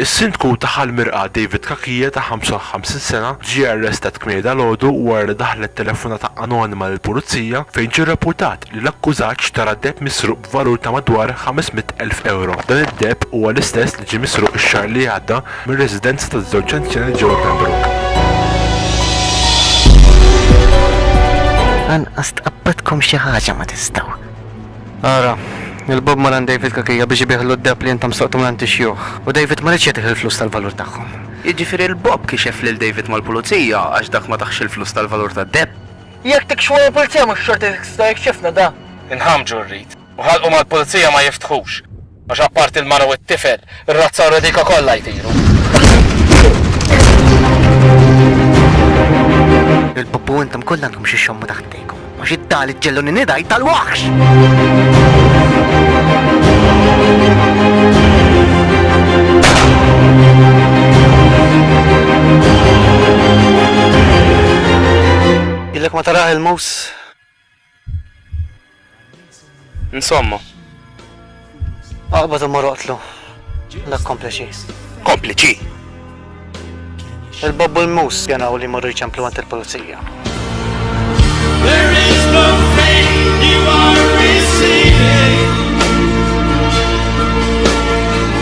Is-Sindku ta' Ħal Mirqla David Cachia ta' 55 sena ġie arrestat kmieni dalgħodu wara li daħlet telefonata anonima lill-Pulizija fejn ġie rrappurtat li l-akkużat xtara deheb misruq b'valur ta' madwar 500 elf ewro. Dan id-deheb huwa l-istess li ġie misruq ix-xahar li għadda mir-residenza taż-żewġ anzjani ġewwa Pembroke. Anqas tqabbadkom xi ħaġa ma tistgħu. Ara, il-Bob mar għand David Cachia biex ibiegħlu d-deheb li intom sraqtu mingħand ix-xjuħ, u David ma riedx jagħtih il-flus tal-valur tagħhom. Jiġifieri l-Bob kixef lil David mal-Pulizija għax dak ma tahx il-flus tal-valur tad-deheb. Jekk tikxfu mal-Pulizija mhux xorta jekk tistgħu jekk xefna da. Inħammġu rrid, u ħalqu mal-Pulizija ma jiftħux. Għax apparti l-mara u t-tifel, ir-razza u r-redika kollha jtiru. Il-puppu intom kollha għandkom xi xommu taħt idejkom. Għax it-tal iġġelluni nidaj tal-waħx! Illek ma taraħ il-mus Insomma. Aqbad u mor oqtlu. Dak kompliċi. Kompliċi? Il-bob u l-mus janaw li morru jċemplu għant il-polizija.